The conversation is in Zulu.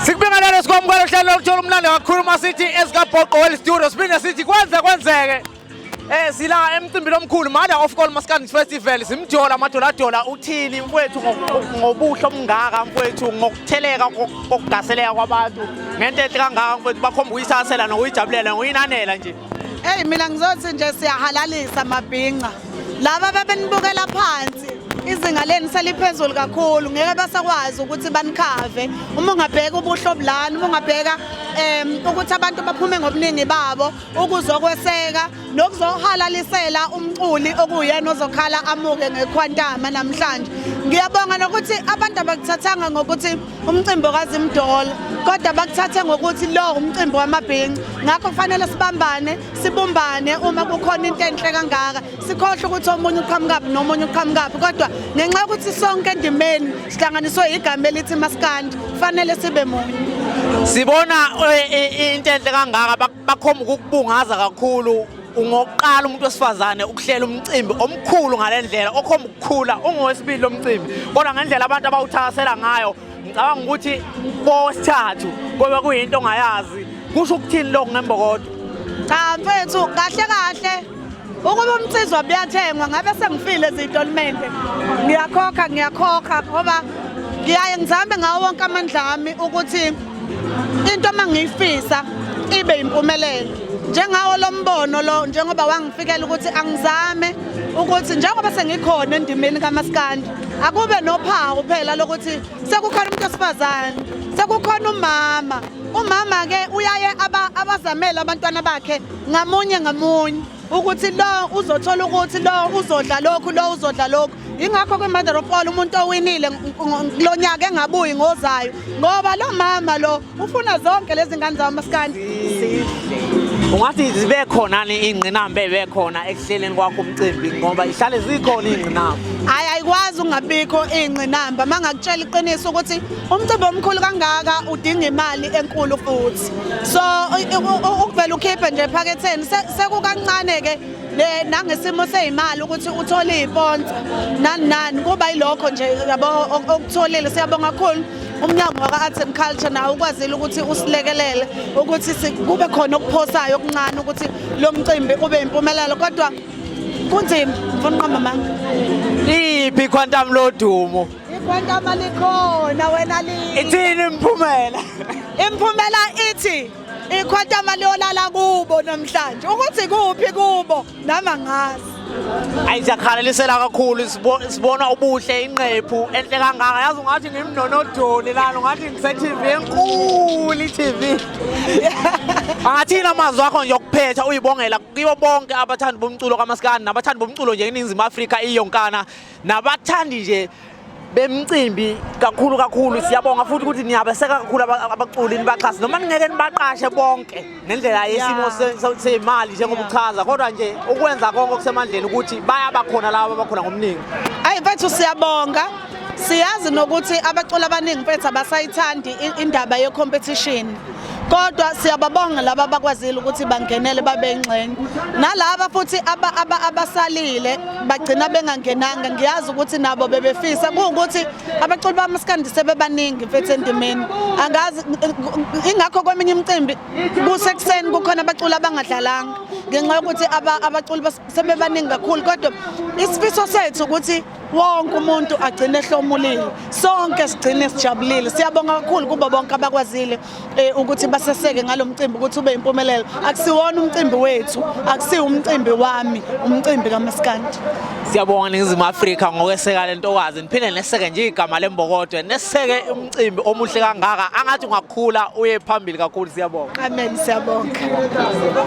Sikubingelele sikwamukela uhlelo lokuthola umlando kakhulu uma sithi esikabhoqo well studio siphinde sithi kwenze kwenzeke Eh sila emcimbini omkhulu mother of all Maskandi Festival simjola amadoladola uthini mfowethu ngobuhle omngaka mfowethu ngokutheleka kokugaseleka kwabantu ngento enhle kangaka mfowethu bakhomba uyisasela nokuyijabulela ngoyinanela nje Hey mina ngizothi nje siyahalalisa mabhinca. Laba bebenibukela phansi izinga leni seliphezulu kakhulu ngeke basakwazi ukuthi banikhave uma ungabheka ubuhle obulani uma ungabheka um ukuthi abantu baphume ngobuningi babo ukuzokweseka nokuzohalalisela umculi okuyena ozokhala amuke ngekhwantama namhlanje ngiyabonga nokuthi abantu abakuthathanga ngokuthi umcimbi okazimdolo kodwa bakuthathe ngokuthi lo umcimbi wamabhinci ngakho kufanele sibambane sibumbane uma kukhona into enhle kangaka sikhohle ukuthi omunye uqhamukaphi nomunye uqhamukaphi kodwa ngenxa yokuthi sonke endimeni sihlanganiswe igama elithi maskandi kufanele sibe munye sibona eh, eh, into enhle kangaka bakhomba ukukubungaza kakhulu ungokuqala umuntu wesifazane ukuhlela umcimbi omkhulu ngale ndlela okhomba ukukhula ungowesibili lo mcimbi kodwa ngendlela abantu abawuthakasela ngayo ngicabanga ukuthi kowesithathu kobe kuyinto ongayazi kusho ukuthini lokhu ngembokodo cha mfethu kahle kahle Ukuba umnsizwa buyathengwa ngabe sengifile ezitolimente. Ngiyakhokha ngiyakhokha ngoba ngiyaye ngizame ngawo wonke amandla ami ukuthi into uma ngiyifisa ibe impumelelo njengawo lo mbono lo njengoba wangifikela ukuthi angizame ukuthi njengoba sengikhona endimeni kamaskandi akube nophawu phela lokuthi sekukhona umuntu osifazane sekukhona umama Umama ke uyaye aba abazamele abantwana bakhe ngamunye ngamunye ukuthi lo uzothola ukuthi lo uzodla lokhu lo uzodla lokhu ingakho ke mother of all umuntu owinile kulonyaka engabuyi ngozayo ngoba lo mama lo ufuna zonke lezi ngane zawo maskandi ungathi zibe khona ni ingqinamba ebe khona ekuhleleni kwakho umcimbi ngoba ihlale zikhona ingqinamba hayi ayikwazi ungabikho ingqinamba mangakutshela iqiniso ukuthi umcimbi omkhulu kangaka udinga imali enkulu futhi so ukuvela ukhiphe nje ephaketheni sekukancane-ke nangesimo seyimali ukuthi uthole iy'ponsa nani nani kuba yilokho nje yabo okutholile siyabonga kakhulu umnyango waka-arts and culture nawo ukwazile ukuthi usilekelele ukuthi kube khona okuphosayo okuncane ukuthi lo mcimbi ube yimpumelelo kodwa kunzima ngifuna uqamba amanga iphi quantum lodumo Igwantama likhona wena li. Ithini imphumela? Imphumela ithi ikhwantama liyolala kubo namhlanje. Ukuthi kuphi kubo nama ngazi. Ayi siyakhalalisela kakhulu sibona ubuhle inqephu enhle kangaka yazi ungathi ngimnonodoli lana ungathi ngise-TV enkulu i-TV angathini amazwi akho nje okuphetha uyibongela kibo bonke abathandi bomculo kamasikandi nabathandi bomculo nje eningizimu afrika iyonkana nabathandi nje bemcimbi kakhulu kakhulu siyabonga futhi ukuthi niyabeseka kakhulu abaculi nibaxhase noma ningeke nibaqashe bonke ngendlela yesimo semali njengoba uchaza kodwa nje ukwenza konke okusemandleni ukuthi bayabakhona laba abakhona ngomningi ayi mfethu siyabonga siyazi nokuthi abaculi abaningi mfethu abasayithandi indaba ye-competition kodwa siyababonga laba abakwazile ukuthi bangenele babe ingxenye nalaba futhi abasalile bagcina bengangenanga ngiyazi ukuthi nabo bebefisa kuwukuthi abaculi bamaskandi sebebaningi mfethu endimeni angazi ingakho kweminye imicimbi kusekuseni kukhona abaculi abangadlalanga ngenxa yokuthi abaculi sebebaningi kakhulu kodwa isifiso sethu ukuthi wonke umuntu agcine ehlomulile sonke sigcine sijabulile siyabonga kakhulu kubo bonke abakwazile eh, ukuthi baseseke ngalo mcimbi ukuthi ube impumelelo akusiwona umcimbi wethu akusiwo umcimbi wami umcimbi kamaskandi siyabonga ningizimu afrika ngokweseka le ntokazi niphinde neseke nje igama lembokodwe neseke umcimbi omuhle kangaka angathi ungakhula uye phambili kakhulu siyabonga amen siyabonga